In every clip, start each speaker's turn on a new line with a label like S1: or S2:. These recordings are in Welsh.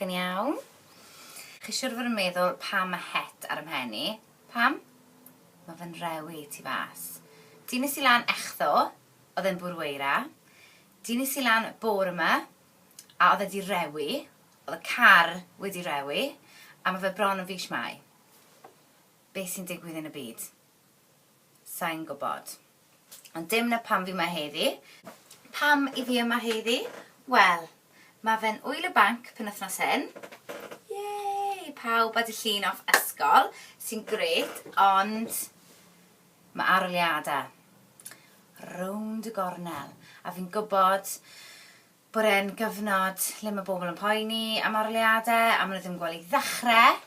S1: chi'n iawn? Chi siwr fod yn meddwl pam mae het ar ymhen i? Pam? Mae fe'n rewi ti fas. Di nes i lan echtho, oedd e'n bwrw eira. Di nes i lan bor yma, a oedd e di rewi. Oedd y car wedi rewi, a mae fe bron yn fis mai. Be sy'n digwydd yn y byd? Sai'n gwybod. Ond dim 'na pam fi 'ma heddi. Pam 'y fi yma heddi? Wel, ma' fe'n Ŵyl y Banc penwythnos hyn. Yay! Pawb a 'di llun off ysgol, sy'n grêt, ond ma' aroliada' rownd y gornel, a fi'n gwybod bod e'n gyfnod lle mae bobl yn poeni am arholiadau a maen nhw ddim yn gweld i ddechrau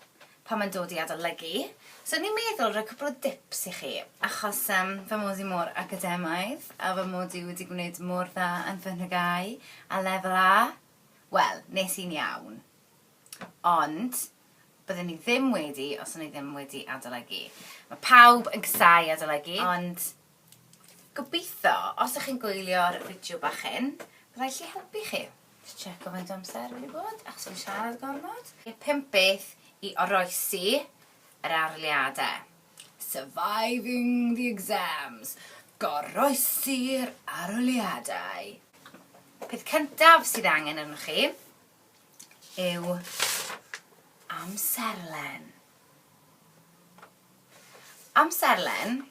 S1: pan mae'n dod i adolygu. So o'n i'n meddwl rhoi cwpl o dips i chi achos um, fy mod i mor academaidd a fy mod i wedi gwneud mor dda yn fy nhygau a lefel A, wel, nes i'n iawn. Ond byddwn i ddim wedi os o'n i ddim wedi adolygu. Mae pawb yn casau adolygu, ond Gobeithio, os ydych chi'n gwylio'r fideo bach hyn, byddai lle helpu chi. Just checo faint o amser wedi bod, achos fi'n siarad gormod. Y pump beth i oroesi yr arholiadau. Surviving the exams. Goroesi'r arholiadau. Peth cyntaf sydd angen arnoch chi yw amserlen. Amserlen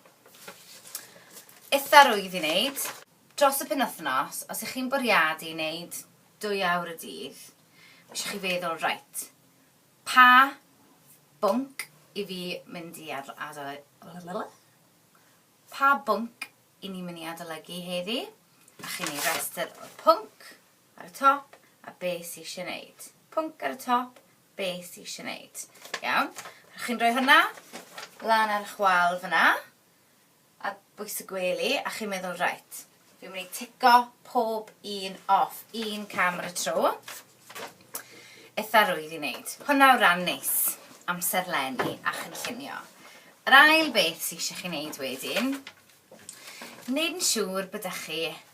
S1: eitha rwydd i wneud dros y penwythnos, os y'ch chi'n bwriadu neud dwy awr y dydd, ma' isio chi feddwl reit, pa bwnc i fi mynd i ad- ado- pa bwnc i ni mynd i adolygu heddi, a chi'n neud restr o'r pwnc ar y top a be' sy isie neud, pwnc ar y top, be ti eisiau wneud. Iawn? Rhaid chi'n rhoi hwnna lan ar eich wal fyna, a bwys y gwely, a chi'n meddwl, reit, fi'n mynd i tico pob un off, un cam ar y tro. Eitha rwydd i wneud. Hwna o ran neis, amser lenni a chynllunio. Yr ail beth sy'n eisiau chi wneud wedyn, wneud yn siŵr bod chi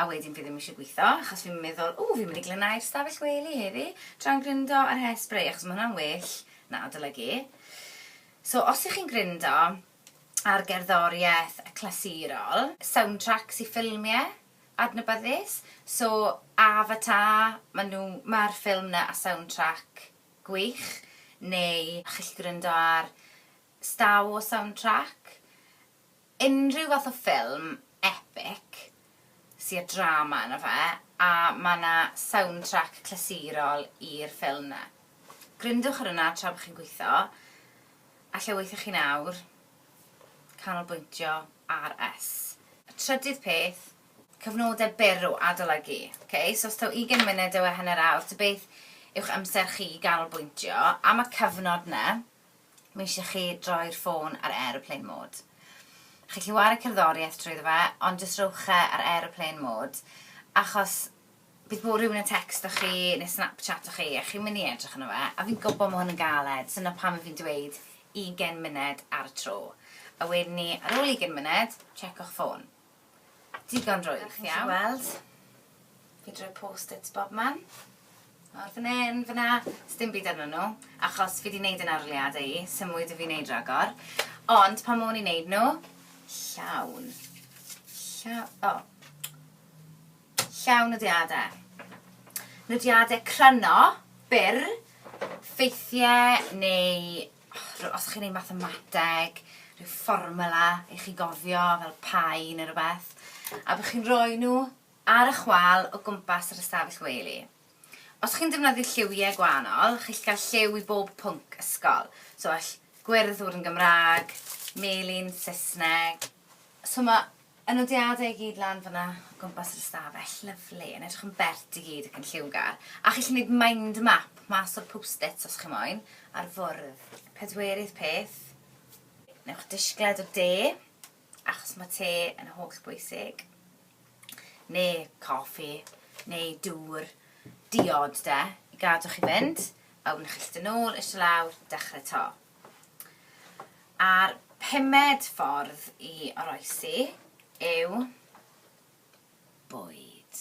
S1: a wedyn fi ddim eisiau gweithio achos fi'n meddwl ww fi'n mynd i glanhau'r stafell wely heddi tra'n gryndo ar hairspray achos mae hwnna'n well na adolygu. So os ych chi'n gryndo ar gerddoriaeth clasurol, soundtrack i ffilmiau adnabyddus, so Avatar, maen nhw, mae'r ffilm na a soundtrack gwych, neu chi'n gallu gryndo ar Star Wars soundtrack, unrhyw fath o ffilm epic sy â drama yno fe a mae yna soundtrack clasurol i'r ffilm 'na. Grindwch ar hwnna tra bod chi'n gweithio a lle weithiwch chi nawr? Canolbwyntio RS. Trydydd peth, cyfnodau byr o adolygu. Ok, so os taw ugain munud yw e hanner awr, ta beth yw'ch amser chi i ganolbwyntio am y cyfnod 'na? Mae eisiau chi droi'r ffôn ar aeroplane mode. Chi'n gallu wario cerddoriaeth drwyddo fe, ond jyst rhowch e ar aeroplane mode, achos bydd bod rhywun yn tecsto chi neu snapchato chi a chi'n mynd i edrych yno fe, a fi'n gwybod mae hwn yn galed, so 'na pam i fi'n dweud ugain munud ar y tro. A wedyn ni, ar ôl ugain munud, checko'ch ffôn. Digon drwg, iawn? Chi'n gweld? Fi droi post-its bobman. Nawr fan hyn, fanna, sdim byd arnyn nhw, achos fi wedi gwneud yn arliad i, sy'n mwy da fi wneud ragor. Ond pan mwyn i'n wneud nhw, llawn. Llawn, o. Oh. Llawn nodiadau. Nodiadau cryno, byr, ffeithiau neu rhyw, os chi'n ei mathemateg, rhyw fformula i chi gofio fel pai neu rhywbeth, a bych chi'n rhoi nhw ar y chwal o gwmpas yr ystafell wely. Os chi'n defnyddio lliwiau gwahanol, chi'll gael lliw i bob pwnc ysgol. So all gwyrdd fod yn Gymraeg, melyn, Saesneg. So mae Y nodiadau i gyd lan fan'na o gwmpas yr ystafell. Lyfli, yn edrych yn bert i gyd ac yn lliwgar. A chi'n gallu gwneud mind map mas o'r post-its os chi moyn, ar fwrdd. Pedwerydd peth, wnewch disgled o de, achos mae te yn holl bwysig, neu coffi, neu dŵr, diod de, i gadw chi fynd, a wedyn chi'n gallu dod nôl, eistedd lawr, dechrau 'to. A'r pumed ffordd i oroesi yw bwyd.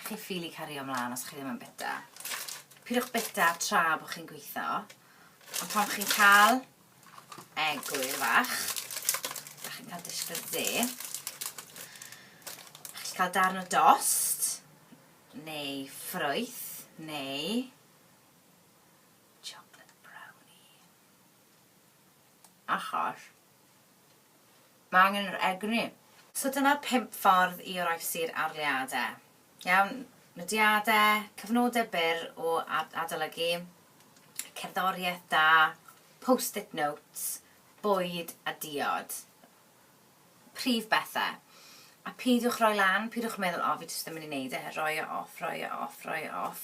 S1: Chi'n ffili cario ymlaen os chi ddim yn bita. Pidwch bita tra bod chi'n gweithio. Ond pan chi'n cael egwyl fach, a chi'n cael disgwyl dde, a chi'n cael darn o dost, neu ffrwyth, neu Chocolate brownie. Achos mae angen yr egni. So dyna'r pump ffordd i oroesi'r arleuadau. Iawn, nodiadau, cyfnodau byr o adolygu, cerddoriaeth da, post-it notes, bwyd a diod. prif bethau. A peidiwch roi lan, peidiwch meddwl, o, fi jyst ddim yn mynd i wneud e, rhoi e off, rhoi e off, rhoi e off.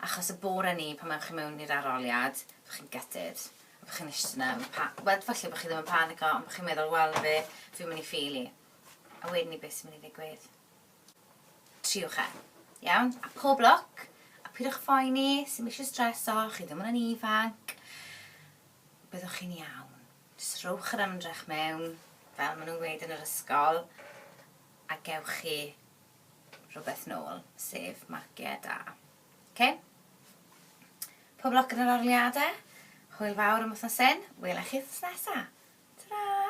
S1: Achos y bore 'ny, pan ewch chi mewn i'r arholiad, byddwch chi'n gutted. A byddwch chi'n eistedd yna, yn pa- wel, falle bod chi ddim yn panico, ond byddwch chi'n meddwl, wel, na fe, fi'n mynd i ffeili. A wedyn ni, beth sy'n mynd i ddigwydd? Triwch e. Iawn? A pob lwc, a peidiwch phoeni, sy'n eisiau streso, chi ddim yn yn ifanc, byddwch chi'n iawn. Jyst rhowch yr ymdrech mewn, fel maen nhw'n gweud yn yr ysgol, a gewch chi rhywbeth nôl, sef marciau da. Ok? Pob lwc yn yr arliadau. Hwyl fawr am wythnos hyn. Wela i chi wythnos nesa. Ta-ra!